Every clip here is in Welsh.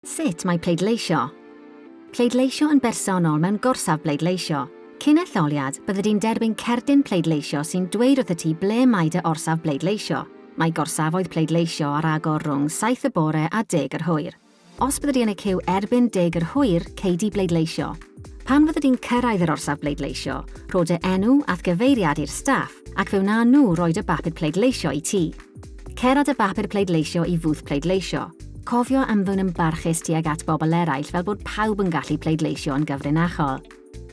Sut mae pleidleisio? Pleidleisio yn bersonol mewn gorsaf bleidleisio. Cyn etholiad, byddi di'n derbyn cerdyn pleidleisio sy'n dweud wrthyt ti ble mae dy orsaf bleidleisio. Mae gorsafoedd pleidleisio ar agor rhwng saith y bore a deg yr hwyr. Os byddi di yn y ciw erbyn deg yr hwyr, cei di bleidleisio. Pan fyddi di'n cyrraedd yr orsaf bleidleisio, rho dy enw a'th gyfeiriad i'r staff ac fe wnawn nhw roi dy bapur pleidleisio i ti. Cer â dy bapur pleidleisio i fwth pleidleisio. Cofio ymddwyn yn barchus tuag at bobl eraill fel bod pawb yn gallu pleidleisio yn gyfrinachol.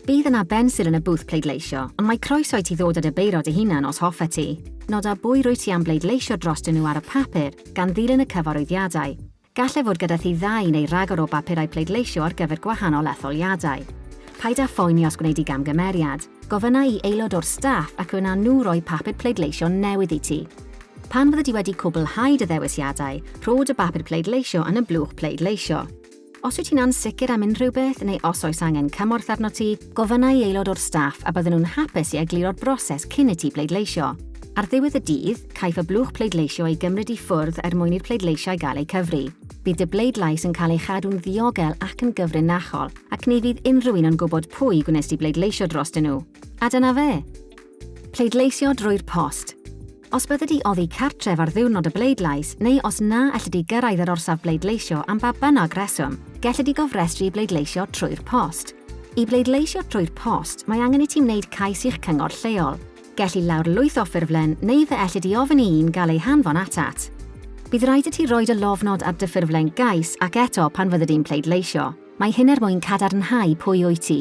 Bydd yna bensil yn y bwth pleidleisio, ond mae croeso i ti ddod â dy beiro dy hunan os hoffe ti. Noda bwy rwyt ti am bleidleisio drostyn nhw ar y papur, gan ddilyn y cyfarwyddiadau. Gallai fod gyda thi ddau neu ragor o bapurau pleidleisio ar gyfer gwahanol etholiadau. Paid â phoeni os gwneud di gamgymeriad. Gofynna i aelod o'r staff ac fe wna nhw roi papur pleidleisio newydd i ti. Pan fyddi di wedi cwblhau dy ddewisiadau, rho dy bapur pleidleisio yn y blwch pleidleisio. Os wyt ti'n ansicr am unrhyw beth neu os oes angen cymorth arnot ti, gofynna i aelod o'r staff a bydden nhw'n hapus i egluro'r broses cyn i ti bleidleisio. Ar ddiwedd y dydd, Caiff y blwch pleidleisio ei gymryd i ffwrdd er mwyn i'r pleidleisiau gael eu cyfri. Bydd dy bleidlais yn cael ei chadw'n ddiogel ac yn gyfrinachol, ac ni fydd unrhyw un yn gwybod pwy gwnes di bleidleisio drostyn nhw. A dyna fe! Pleidleisio drwy'r post. Os bydde di oddi cartref ar ddiwrnod y bleidlais, neu os na elli di gyrraedd yr orsaf bleidleisio am ba bynnag reswm, gelli di gofrestru i bleidleisio trwy'r post. I bleidleisio trwy'r post, mae angen i ti wneud cais i'ch cyngor lleol. Gelli lawrlwytho ffurflen neu fe ellid i ofyn i un gael ei hanfon atat. Bydd raid i ti roi dy lofnod ar dy ffurflen gais ac eto pan fyddi di'n pleidleisio. Mae hyn er mwyn cadarnhau pwy wyt ti.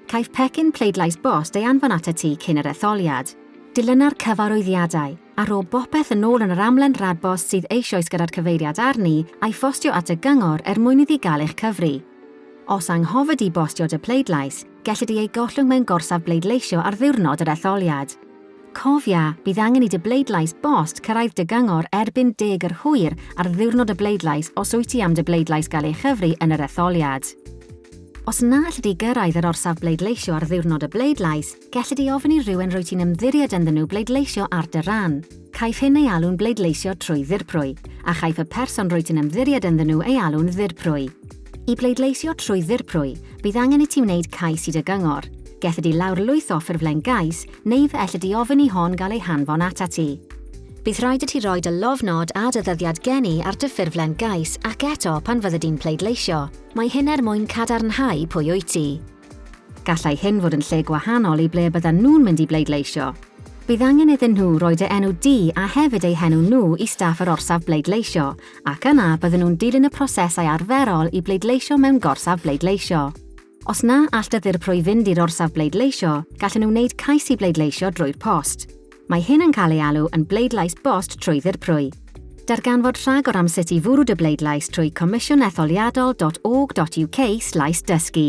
Caiff pecyn pleidlais bost ei anfon atat ti cyn yr etholiad. Dilyna'r cyfarwyddiadau, a rho bopeth yn ôl yn yr amlen radbost sydd eisioes gyda'r cyfeiriad arni a'i phostio at y Gyngor er mwyn iddi gael eich cyfri. Os anghofid di bostio dy pleidlais, Gellid ei ei gollwng mewn gorsaf bleidleisio ar ddiwrnod yr etholiad. Cofia, bydd angen i dy bleidlais bost cyrraedd dy gyngor erbyn deg yr hwyr ar ddiwrnod y bleidlais os wyt ti am dy bleidlais gael ei chyfri yn yr etholiad. Os na allid di gyrraedd yr orsaf bleidleisio ar ddiwrnod y bleidlais, gellid di ofyn i rywun rwyt ti'n ymddiried ynddyn nhw bleidleisio ar dy ran. Caiff hyn ei alw'n bleidleisio trwy ddirprwy, a chaiff y person rwyt ti'n ymddiried ynddyn nhw ei alw'n ddirprwy. I bleidleisio trwy ddirprwy, bydd angen i ti wneud cais i dy gyngor. Gellid di lawrlwytho ffurflen gais, neu fe ellid di ofyn i hon gael ei hanfon atat ti. Bydd rhaid i ti roi dy lofnod a dy ddyddiad geni ar dy ffurflen gais ac eto pan fyddi di'n pleidleisio. Mae hyn er mwyn cadarnhau pwy wyt ti. Gallai hyn fod yn lle gwahanol i ble byddan nhw'n mynd i bleidleisio. Bydd angen iddyn nhw roi dy enw di a hefyd eu henw nhw i staff yr orsaf bleidleisio, ac yna bydden nhw'n dilyn y prosesau arferol i bleidleisio mewn gorsaf bleidleisio. Os na all dy ddirprwy fynd i'r orsaf bleidleisio, gallen nhw wneud cais i bleidleisio drwy'r post. Mae hyn yn cael ei alw yn bleidlais bost trwy ddirprwy. Darganfod rhagor am sut i fwrw dy bleidlais trwy comisiynetholiadol.org.uk slaes dysgu.